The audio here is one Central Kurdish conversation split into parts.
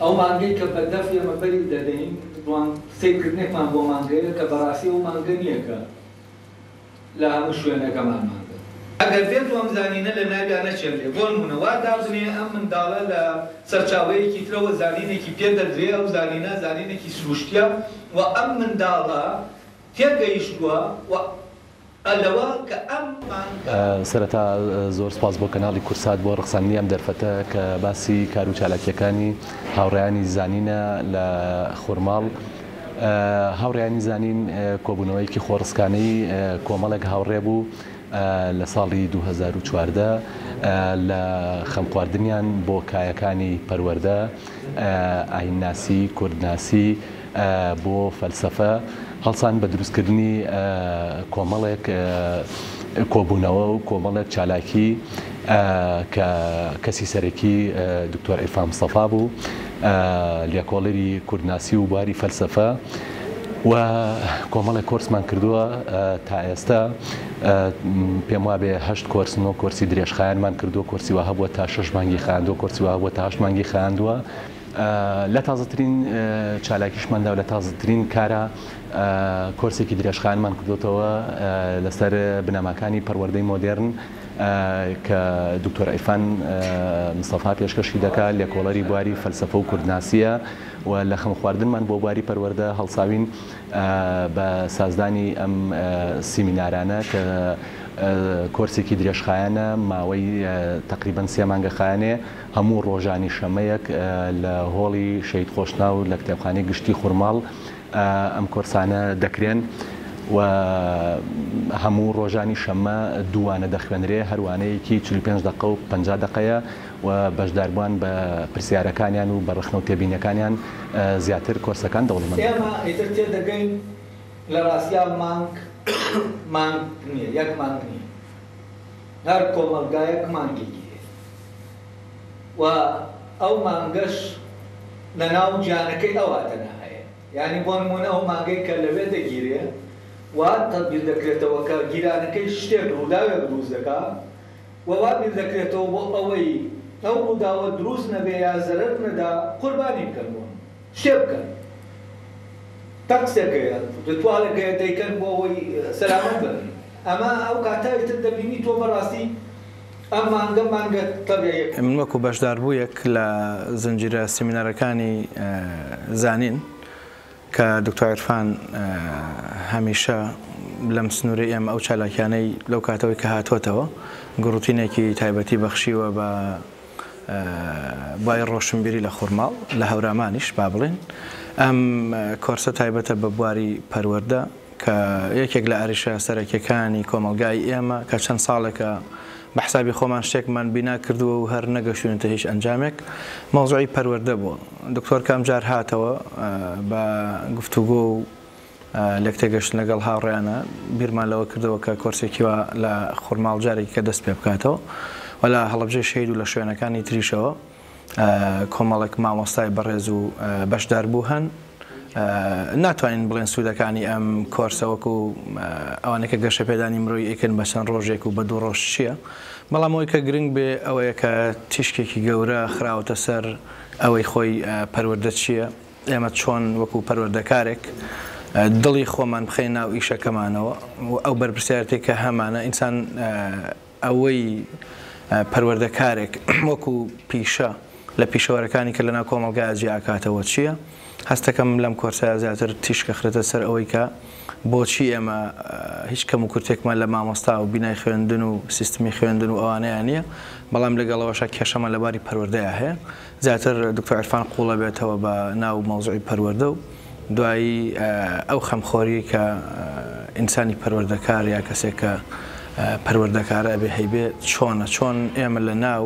ئەو مانگەی کە بەدەف ئێمە بەری دەدەین، دوان سەیرکردنێکمان بۆ مانگەیە کە بەڕاستی ئەو مانگە نییە کە لە هەموو شوێنەکەمان مانگە. ئەگەر بێت و ئەم زانینە لە ناویا نەچێنرێ، بۆ نموونە وا دابنێ ئەم منداڵە لە سەرچاوەیەکی ترەوە زانینێکی پێ دەدرێ، ئەو زانینە زانینێکی سروشتییە و ئەم منداڵە تێگەیشتووە و پەلەوە کە ئەم مانگە. سەرەتا زۆر سوپاس بۆ کەناڵی کورسات بۆ ڕەخساندنی ئەم دەرفەتە کە باسی کار و چالاکییەکانی هاوڕێیانی زانینە لە خورماڵ. هاوڕێیانی زانین کۆبوونەوەیەکی خۆڕسکانەی کۆمەڵێک هاوڕێ بوو لە ساڵی دوو هەزار و چواردە لە خەمخواردنیان بۆ کایەکانی پەروەردە، ئاینناسی، کوردناسی، بۆ فەلسەفە، هەڵسان بە دروستکردنی کۆمەڵێک کۆبوونەوە و کۆمەڵێک چالاکی کە کەسی سەرەکی دکتۆر عیرفان مستەفا بوو، لێکۆڵەری کوردناسی و بواری فەلسەفە و کۆمەڵێک کۆرسمان کردووە تا ئێستا. پێم وابێ هەشت کۆرس نۆ کۆرسی درێژخایەنمان کردووە کۆرسی وە هەبووە تا شش مانگی خاندووە کۆرسی وە هەبووە تا هەشت مانگی خاندووە لە تازەترین چالاکیشماندا و لە تازەترین کارە کۆرسێکی درێژخانمان کردوتەوە لەسەر بنەماکانی پەروەردەی مۆدێرن کە دکتۆر ئەیفان مستەفا پێشکەشی دەکا لێکۆڵەری بواری فەلسەفە و کوردناسیە و لە خەم خواردنمان بۆ بواری پەروەردە هەڵساوین بە سازدانی ئەم سیمینارانە کە کۆرسێکی درێژخایەنە ماوەی تەقریبەن سێ مانگە خایەنێ هەموو ڕۆژانی شەمەیەک لە هۆڵی شەهید خۆشناو لە کتێبخانەی گشتی خورماڵ ئەم کۆرسانە دەکرێن و هەموو ڕۆژانی شەمە دوو وانە دەخوێنرێ هەر وانەیەکی چل و پێنج دەقە و پەنجا دەقەیە و بەشداربوان بە پرسیارەکانیان و بە ڕەخنە و تێبینیەکانیان زیاتر کۆرسەکان دەوڵەمەند دەکەن. ئێمە ئیتر تێدەگەین لە ڕاستیا مانگ مانگ نیە یەک مانگ نیە هەر کۆمەڵگایەک مانگێکی هەیە و ئەو مانگەش لە ناو گیانەکەی ئەوا تەنها هەیە یانی بۆ نمونە ئەو مانگەی کە لەوێ دەگیرێ وا تەبیر دەکرێتەوە کە گیرانەکەی شتێک ڕووداوێک دروست دەکا و وا بیر دەکرێتەوە بۆ ئەوەی ئەو ڕووداوە دروست نەبێ یا زەرەر نەدا، قوربانی بکەن بۆ من. شتێ بکەن. تەقسێک هەیە، ڕیتواڵێک هەیە دەیکەن بۆ ئەوەی سەلامەت بن. ئەمە ئەو کاتە ئیتر دەبینی تۆ بەڕاستی ئەم مانگە مانگە تەبیعییەکە. من وەکوو بەشداربوویەک لە زنجیرە سیمینارەکانی زانین، کە دکتۆر عیرفان هەمیشە لەم سنوورەی ئێمە ئەو چالاکیانەی لەو کاتەوەی کە هاتووەتەوە گوڕوتینێکی تایبەتی بەخشیوە بە بای ڕۆشنبیری لە خورماڵ لە هەورامانیش با بڵێن ئەم کۆرسە تایبەتە بە بواری پەروەردە کە یەکێک لە ئەرشە سەرەکیەکانی کۆمەڵگای ئێمە کە چەند ساڵێکە بە حسابی خۆمان شتێکمان بینا کردووە و هەر نەگەشتوونەتە هیچ ئەنجامێک مەوزوعی پەروەردە بووە دکتۆر کە ئەمجار هاتەوە بە گفتوگۆ و لەک تێگەشت لەگەڵ هاوڕیانە بیرمان لەوە کردەوە کە کۆرسێکی وا لە خورماڵ جارێکی کە دەست پێ بکاتەوە وەلا هەڵبژێ شەید و لە شوێنەکانی تریشەوە کۆمەڵێک مامۆستای بەڕێز و بەشداربوو هەن ناتوانین بڵێن سوودەکانی ئەم کۆرسە وەکو ئەوانە کە گەشە پێدانی مرۆی ئەکرد بە چەند ڕۆژێک و بە دوو ڕۆژ چییە بەڵام ئەوەی کە گرنگ بێ ئەوەیە کە تیشکێکی گەورە خراوەتە سەر ئەوەی خۆی پەروەردە چییە ئێمە چۆن وەکو پەروەردەکارێک دڵی خۆمان بخەین ناو ئیشەکەمانەوە ئەو بەرپرسیارەتی کە هەمانە ئینسان ئەوەی پەروەردەکارێک وەکو پیشە لە پیشەوەرەکانی کە لەناو کۆمەڵگایا جیا ئەکاتەوە چییە؟ هەستەکەم لەم کۆرسەیا زیاتر تیشک ئەخرێتە سەر ئەوەی کە بۆچی ئێمە هیچ کەموکورتێکمان لە مامۆستا و بینای خوێندن و سیستمی خوێندن و ئەوانەیا نییە، بەڵام لەگەڵ ئەوەشا کێشەمان لە باری پەروەردەیا هەیە. زیاتر دکتۆر عیرفان قوڵەبێتەوە بە ناو مەوزوعی پەروەردە و دوایی ئەو خەمخۆریەی کە ئینسانی پەروەردەکار یا کەسێک کە پەروەردەکارە ئەبێ هەیبێ چۆنە چۆن ئێمە لە ناو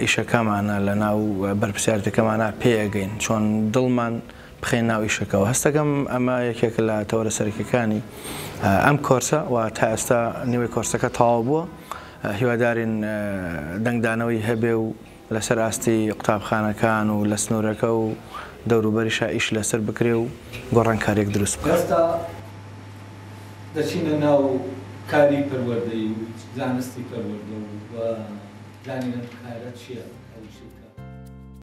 ئیشەکەمانە لە ناو بەرپسیارەتەکەمانە پێگەین چۆن دڵمان بخەین ناو ئیشەکەەوە هەستەکەم ئەمە یەکێک لە تەوەرە سەرەکەکانی ئەم کۆرسە و تا ئێستا نیوەی کۆرسەکە تەواو بووە هیوادارین دەنگدانەوەی هەبێ و لەسەر ئاستی قوتابخانەکان و لە سنوورەکە و دەوروبەریشا ئیش لەسەر بکرێ و گۆڕانکارییەک دروست بکا. ئێستا دەچینە ناو کاری پەروەردەیی و زانستی پەروەردە و دانیان کارە چییە ئەو چیرکە؟